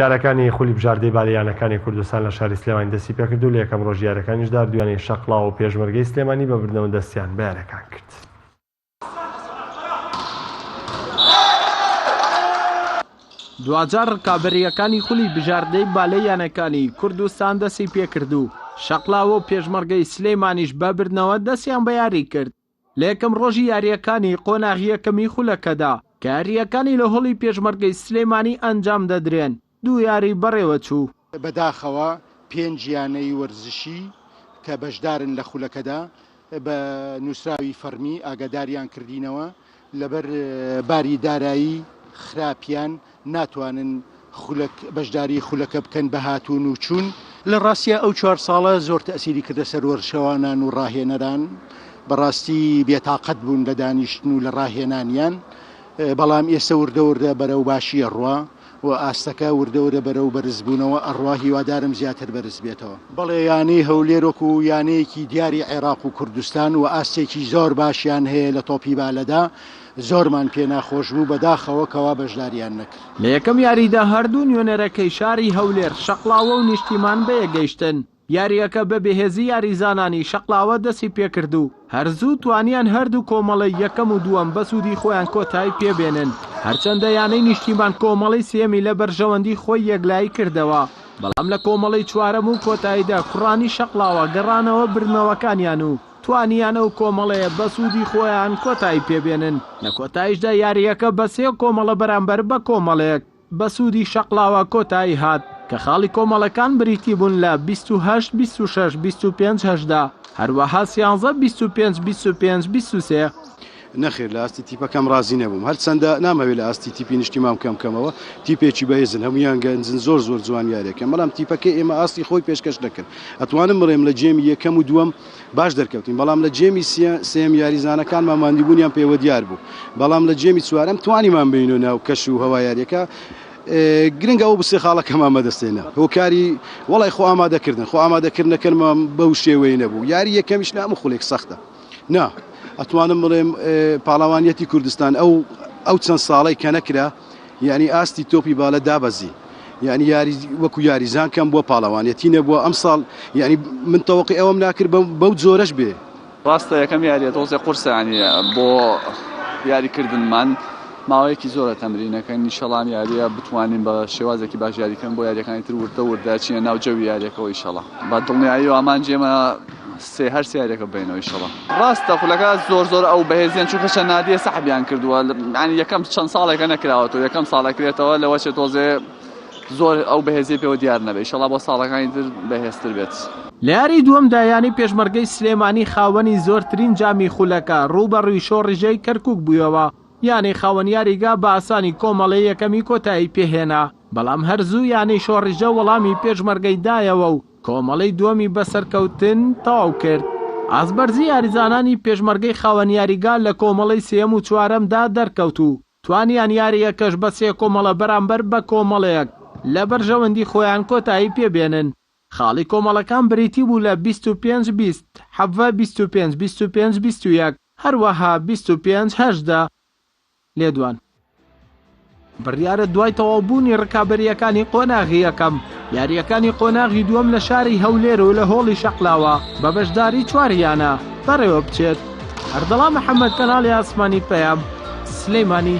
یانەکانی خولی بژاردەی بالەی یانەکانی کوردستان لە شاری سلێمانی دەستی پێکرد و لە یەکەم رۆژی یاریەکانیشدا دویانەی شەقڵاوە و پێشمەرگەی سلێمانی بە بردنەوە دەستیان بە یاریەکان کرد. دواجار رکابەرییەکانی خولی بژاردەی بالەی یانەکانی کوردستان دەستی پێکرد و شەقڵاوە و پێشمەرگەی سلێمانیش بە بردنەوە دەستیان بە یاری کرد. لە یەکەم ڕۆژی یارییەکانی قۆناغی یەکەمی خولەکەدا کە یارییەکانی لە هۆڵی پێشمەرگەی سلێمانی ئەنجام دەدرێن، دوو یاریی بەڕێوەچوو. بەداخەوە پێنج یانەی وەرزشی کە بەشدارن لە خولەکەدا بە نووسراوی فەڕمی ئاگاداریان کردینەوە لەبەر باری دارایی خراپیان ناتوانن خولەک بەشداری خولەکە بکەن بە هاتوون و چوون. لە ڕاستیا ئەو چوار ساڵە زۆر تەئسیری کردە سەر وەرشەوانان و ڕاهێنەران، بەڕاستی بێتاقەت بوون لە دانیشتن و لە ڕاهێنانیان، بەڵام ئێستە وردە وردە بەرەو باشی ئەڕوا. و ئاستەکە وردە ورە بەرەو بەرز بوونەوە ئەڕوا هیوادارم زیاتر بەرز بێتەوە. بەڵێ یانەی هەولێر وەکو یانەیەکی دیاری عێراق و کوردستان و ئاستێکی زۆر باشیان هەیە لە تۆپی بالەدا زۆرمان پێ ناخۆش بوو بەداخەوە کەوا بەشداریان نەکرد. لە یەکەم یاریدا هەردوو نوێنەرەکەی شاری هەولێر شەقڵاوە و نیشتیمان بەیەک گەیشتن. یارییەکە بە بێهێزی یاریزانانی شەقڵاوە دەستی پێکرد و هەر زوو توانیان هەردوو کۆمەڵەی یەکەم و دووەم بە سوودی خۆیان کۆتایی پێ بێنن، هەرچەندە یانەی نیشتیمان کۆمەڵەی سێیەمی لە بەرژەوەندی خۆی یەکلایی کردەوە، بەڵام لە کۆمەڵەی چوارەم و کۆتاییدا کوڕانی شەقڵاوە گەڕانەوە بردنەوەکانیان و توانیان ئەو کۆمەڵەیە بە سوودی خۆیان کۆتایی پێ بێنن، لە کۆتاییشدا یارییەکە بە سێ کۆمەڵە بەرامبەر بە کۆمەڵێک. بە سوودی شەقڵاوە کۆتایی هات، کە خاڵی کۆمەڵەکان بریتی بوون لە بیست و هەشت بیست و شەش بیست و پێنج هەژدە، هەروەها سیانزە بیست و پێنج بیست و پێنج بیست و سێ. نەخێر، لە ئاستی تیپەکەم رازی نەبووم، هەرچەندە نامهەوێ لە ئاستی تیپی نیشتیمان بکەم کەمەوە، تیپێکی بەهێزن، هەموویان گەنجن، زۆر زۆر جوان یارییەکەن، بەڵام تیپەکەی ئێمە ئاستی خۆی پێشکەش نەکرد، ئەتوانم بڵێم لە گێمی یەکەم و دووەم، باش دەرکەوتین، بەڵام لە جێمی سێیەم یاریزانەکانمان ماندیبوونیان پێوە دیار بوو، بەڵام لە جێمی چوارەم توانیمان بێینە ناو کەش و هەوای یارییەکە، گرنگە ئەو سێ خاڵە کەمان بەدەستهێنا هۆکاری وەڵای خۆ ئامادەکردن، خۆ ئامادەکردنەکەنمان بەو شێوەیە نەبوو، یاری یەکەمیش لە هەموو خولێک سەختە، نا ئەتوانم بڵێم پاڵەوانیەتی کوردستان ئەو ئەو چەند ساڵەی کە نەکرا، یانی ئاستی تۆپی بالە دابەزی یانی یاری وەکو یاریزان کەم بووە پاڵەوانێتی نەبووە ئەمساڵ یانی من تەوەقی ئەوەم ناکرد بەو جۆرەش بێ ڕاستە یەکەم یاریە تۆزێ قورسانی بۆ یاریکردنمان ماوەیەکی زۆرە تەمرینەکەن نیشەڵام یاریە بتوانین بە شێوازێکی باش یاریکەن بۆ یاریەکانی تر وردە وردە چیە ناو جەوی یاریەکەەوەی شەڵا بە دڵنیایی و ئامانجێمە سێ هەر سێ هەرێکە بێنەوە ئیشەڵا. ڕاستە خولەکە زۆر زۆر ئەو بەهێزیان چونکە شەنادیە سەحبیان کردووە ینی یەکەم چەند ساڵێکە نەکراوەەوە یەکەم ساڵەکرێتەوە لەوە چێت تۆزێ زۆر ئەو بەهێزی پێوە دیار نەبێت شەڵا بۆ ساڵەکانی تر بەهێزتر بێت. لە یاری دووەمدا یانەی پێشمەرگەی سلێمانی خاوەنی زۆرترین جامی خولەکە، رووبەڕووی شۆڕیژێی کەرکووک بوویەوە، یانەی خاوەن یاریگا بە ئاسانی کۆمەڵەی یەکەمی کۆتایی پێهێنا، بەڵام هەر زوو یانەی شۆڕیژە وەڵامی پێشمەرگەی دایەوە و کۆمەڵەی دووەمی بە سەرکەوتن تەواو کرد. ئازبەرزی یاریزانانی پێشمەرگەی خاوەن یاریگا لە کۆمەڵەی سێیەم و چوارەمدا دەرکەوت و توانیان یارییەکەش بە سێ کۆمەڵە بەرامبەر بە کۆمەڵەیەک لە بەرژەوەندی خۆیان کۆتایی پێ بێنن. خاڵی کۆمەڵەکان بریتی بوو لە بیست و پێنج بیست، حەڤە بیست و پێنج بیست و پێنج بیست و یەک، هەروەها بیست و پێنج هەژدە. لێدوان، بڕیارە دوای تەواوبوونی رکابەرییەکانی قۆناغی یەکەم، یارییەکانی قۆناغی دووەم لە شاری هەولێر و لە هۆڵی شەقلاوە بە بەشداری چوار یانە بەڕێوەبچێت. ئەردەڵا محەمەد، کەناڵی ئاسمانی پەیام، سلێمانی.